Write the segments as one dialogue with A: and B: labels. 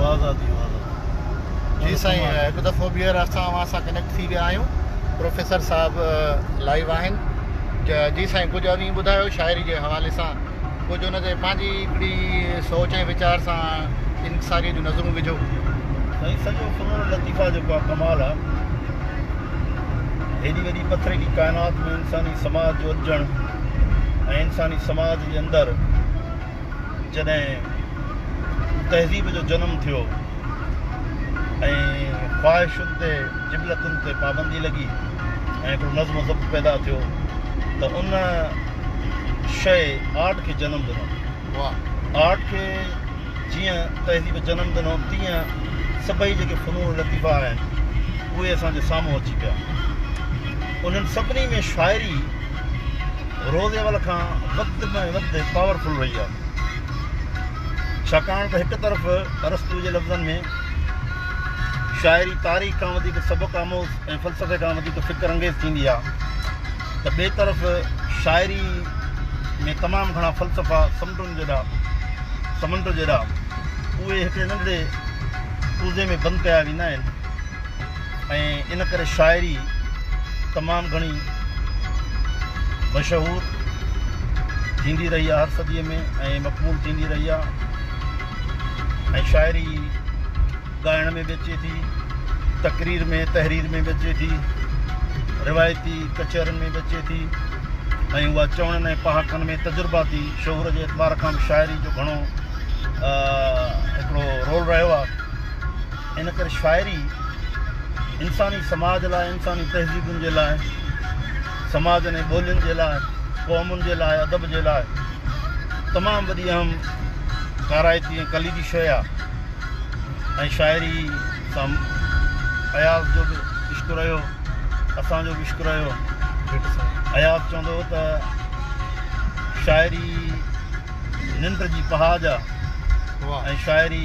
A: واضع ٿي واضع ٿي جي سائين هڪ دفعو ٻيهر اسان اوهان سان ڪنيڪٽ ٿي ويا آهيون پروفيسر صاحب لائيو آهن جي سائين ڪجهه اوهين ٻڌايو شاعري جي حوالي سان ڪجهه ان تي پنهنجي هڪڙي سوچ ۽ ويچار سان انڪساري جون نظرون وجهو سائين سڄو
B: فنون لطيفه جيڪو آهي ڪمال آهي هيڏي وڏي پٿريلي ڪائنات ۾ انساني سماج جو اڏجڻ ۽ انساني سماج جي اندر جڏهن تهذيب جو جنم ٿيو ۽ خواهشن تي جبلتن تي پابندي لڳي ۽ هڪڙو نظم و ضبط پيدا ٿيو ته ان شيء آرٽ کي جنم ڏنو. آرٽ کي جيئن تهذيب جنم ڏنو تيئن سڀئي جيڪي فنون لطيفه آهن اهي اسان جي سامهون اچي پيا. انهن سڀني ۾ شاعري روز اول کان وڌ ۾ وڌ پاور فل رهي آهي ڇاڪاڻ ته هڪ طرف ارسطو جي لفظن ۾ شاعري تاريخ کان وڌيڪ سبق آموز ۽ فلسفي کان وڌيڪ فڪر انگيز ٿيندي آهي ته ٻئي طرف شاعري ۾ تمام گهڻا فلسفا سمنڊن جيڏا سمنڊ جيڏا اهي هڪڙي ننڍڙي ڪوزي ۾ بند ڪيا ويندا آهن ۽ ان ڪري شاعري تمام گهڻي مشهور ٿيندي رهي آهي هر صديء ۾ ۽ مقبول ٿيندي رهي آهي ۽ شاعري ڳائڻ ۾ به اچي ٿي تقرير ۾ تحرير ۾ به اچي ٿي روايتي ڪچهرن ۾ به اچي ٿي ۽ اها چوڻن ۽ پهاڪن ۾ تجرباتي شعور جي اعتبار کان به شاعري جو گهڻو هڪڙو رول رهيو آهي ان ڪري شاعري انساني سماج لاء، انساني تهذيبن جي لاء، سماجن ۽ ٻولين جي لاء، قومن جي لاء، ادب جي لاء تمام وڏي اهم ڪارائتي ۽ ڪليدي شيء آهي ۽ شاعري سان اياز جو به عشق رهيو، اسان جو به عشق رهيو. اياز چوندو هو ته شاعري ننڊ جي پهاج آهي ۽ شاعري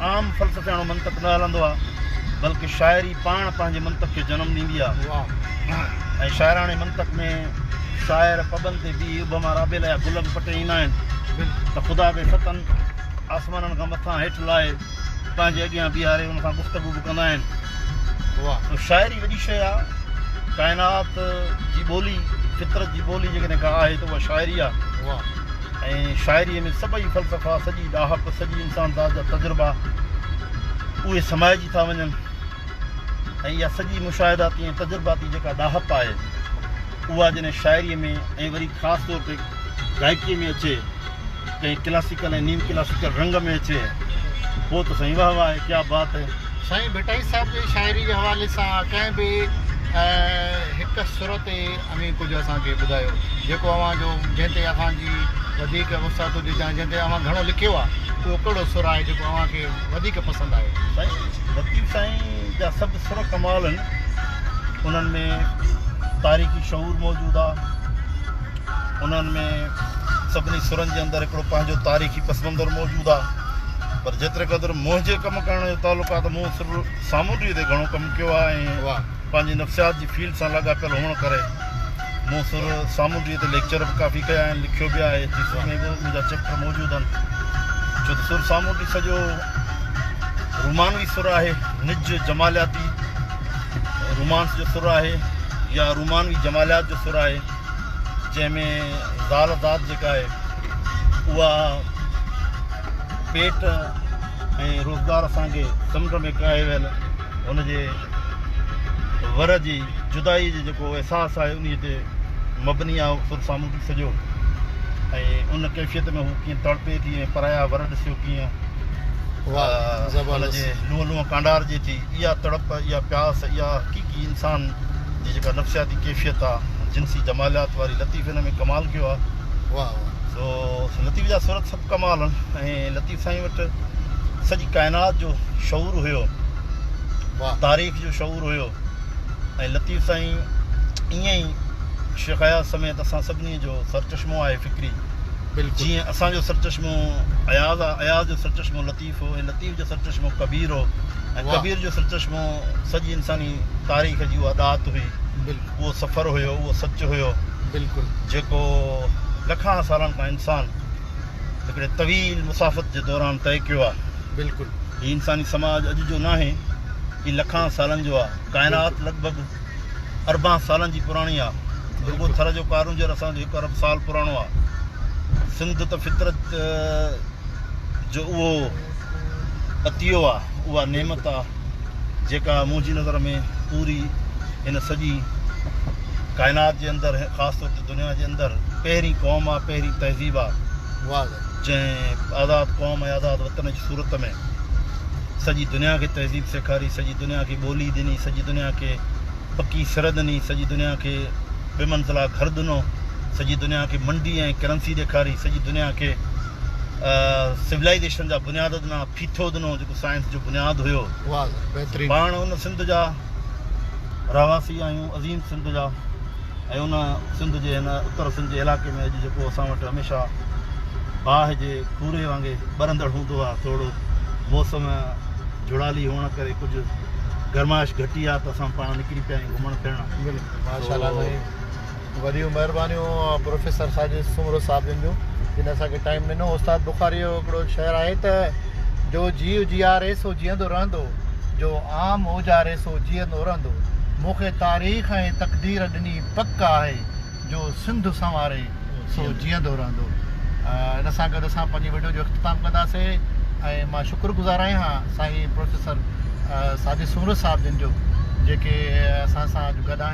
B: عام فلسفياڻو منطق نه هلندو آهي، بلڪه شاعري پاڻ پنهنجي منطق کي جنم ڏيندي آهي ۽ شاعراڻي منطق ۾ شاعر پٻن تي بيهي ابهما رابيلا يا گل به پٽي ايندا آهن ته خدا کي ستن آسمانن کان مٿان هيٺ لاهي پنهنجي اڳيان بيهاري ان سان گفتگو به ڪندا آهن. تو شاعري وڏي شيء آهي. ڪائنات جي ٻولي، فطرت جي ٻولي جيڪڏهن ڪا آهي ته اها شاعري آهي. ۽ شاعريء ۾ سڀئي فلسفا، سڄي ڏاهپ، سڄي انسانذات جا تجربا اهي سمائجي ٿا وڃن ۽ اها سڄي مشاهداتي ۽ تجرباتي جيڪا ڏاهپ آهي اها جڏهن شاعريء ۾ ۽ وري خاص طور تي گائڪيء ۾ اچي، ڪنهن ڪلاسيڪل ۽ نيم ڪلاسيڪل رنگ ۾ اچي، پوء ته سائين واه واه ڪيا بات هي. سائين ڀٽائي
A: صاحب جي شاعريء جي حوالي سان ڪنهن به هڪ سر تي اوهين ڪجهه اسان کي ٻڌايو جيڪو اوهان جو جنهن تي اوهان جي وڌيڪ وسعت هجي يا جنهن تي اوهان گهڻو لکيو آهي اهو ڪهڙو سر آهي جيڪو اوهان کي وڌيڪ پسند آهي. سائين لطيف
B: سائين جا سڀ سر ڪمال آهن انهن ۾ تاريخي شعور موجود آ انهن ۾ سڀني سرن جي اندر هڪڙو پنهنجو تاريخي پس منظر موجود آ پر جيتري قدر منهنجي ڪم ڪرڻ جو تعلق آ ته مون سر سامونڊيء تي گهڻو ڪم ڪيو آ ۽ پنهنجي نفسيات جي فيلڊ سان لاڳاپيل هئڻ ڪري مون سر سامونڊيء تي ليڪچر به ڪافي ڪيا آهن، لکيو به آهي، ٿيسز ۾ به منهنجا چيپٽر موجود آهن، ڇو ته سر سامونڊي سڄو رومانوي سر آهي، نج جمالياتي رومانس جو سر آهي يا رومانوي جماليات جو سر آهي، جنهن ۾ زال ذات جيڪا آهي اها پيٽ ۽ روزگار سان ڪي سمنڊ ۾ ڪاهي ويل ان جي ور جي جدائي جي جيڪو احساس آهي انهي تي مبني آهي اهو سر سامونڊي سڄو ۽ ان ڪيفيت ۾ هو ڪيئن تڙپي ٿي ۽ پرايا ور ڏسيو ڪيئن ان جي لونء لونء ڪانڊارجي ٿي اها تڙپ اها پياس اها حقيقي انسان جي جيڪا نفسياتي ڪيفيت آهي جنسي جماليات واري لطيف ان ۾ ڪمال ڪيو آهي سو لطيف جا سر ڪمال ۽ لطيف سائين وٽ سڄي ڪائنات جو شعور هيو تاريخ جو شعور هيو ۽ لطيف سائين ائين ئي شيخ اياز سميت اسان سڀني جو سرچشمو آهي فڪري جيئن
A: اسان جو سرچشمو
B: اياز آهي اياز جو سرچشمو لطيف هو ۽ لطيف جو سرچشمو ڪبير هو ۽ ڪبير جو سرچشمو سڄي انساني تاريخ جي اها ڏات هئي اهو سفر
A: هيو اهو
B: سچ هيو بلڪل جيڪو لکان سالن کان انسان هڪڙي طويل مسافت جي دوران طئي ڪيو آهي. بلڪل. هي انساني
A: سماج
B: اڄ جو ناهي. هي لکان سالن جو آهي. ڪائنات لڳ ڀڳ اربان سالن جي پراڻي آهي. رڳو ٿر جو ڪارونجهر اسان جو هڪ ارب سال پراڻو آهي. سنڌ ته فطرت جو اهو عطيو آهي، اها نعمت آهي، جيڪا منهنجي نظر ۾ پوري هن سڄي ڪائنات جي اندر خاص طور تي دنيا جي اندر پهرين قوم آ پهرين تهذيب آ جنهن آزاد قوم ۽ آزاد وطن جي صورت ۾ سڄي دنيا کي تهذيب سيکاري سڄي دنيا کي ٻولي ڏني سڄي دنيا کي پڪي سر ڏني سڄي دنيا کي ٻه منزلا گهر ڏنو سڄي دنيا کي منڊي ۽ ڪرنسي ڏيکاري سڄي دنيا کي سولائيزيشن جا بنياد ڏنا ڦيٿو ڏنو جيڪو سائنس جو بنياد هيو
A: پاڻ ان سنڌ جا
B: رهواسي آهيون عظيم سنڌ جا ۽ ان سنڌ جي هن اتر سنڌ جي علائقي ۾ اڄ جيڪو اسان وٽ هميشه باهه جي کوري وانگي ٻرندڙ هوندو آهي توڙو موسم جڙالي هئڻ ڪري ڪجهه گرمائش گهٽي آهي ته اسان پاڻ نڪري پيا آهيون گهمڻ ڦرڻ ماشاءالله سائين
A: وڏيون مهربانيون پروفيسر ساجد سومرو صاحب جن جون جن اسان کي ٽائيم ڏنو استاد بخاري جو هڪڙو شعر آهي ته جو جيء جياري سو جيئندو رهندو جو عام اوجاري سو جيئندو رهندو مون کي تاريخ ۽ تقدير ڏني پڪ آهي جو سنڌ سنواري سو جيئندو رهندو ان سان گڏ اسان پنهنجي وڊيو جو اختتام ڪنداسي ۽ مان شڪر گذار آهيان هان سائين پروفيسر ساجد سومرو صاحب جن جو جيڪي اسان سان اڄ گڏ آهن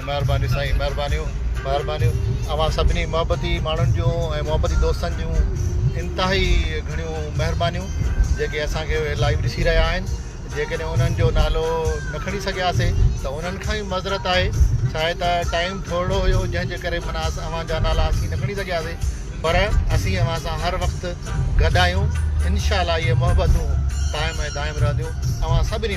A: مھرباني سائين مھربانيون مھربانيون اوھان سڀني محبتي ماڻھن جون ۽ محبتي دوستن جون انتھائي گھڻيون مھربانيون جيڪي اسان کي لائيو ڏسي رھيا آھن جيڪڏھن انھن جو نالو نھ کڻي سگھياسي تھ انھن کان بھ معذرت آھي ڇاھي تھ ٽائيم ٿورڙو ھيو جنھن جي ڪري معنيٰ اوھان جا نالا اسين نھ کڻي سگھياسي پر اسين اوھان سان ھر وقت گڏ آھيون انشاء الله اھي محبتون قائم ۽ دائم رھنديون اوھان سڀني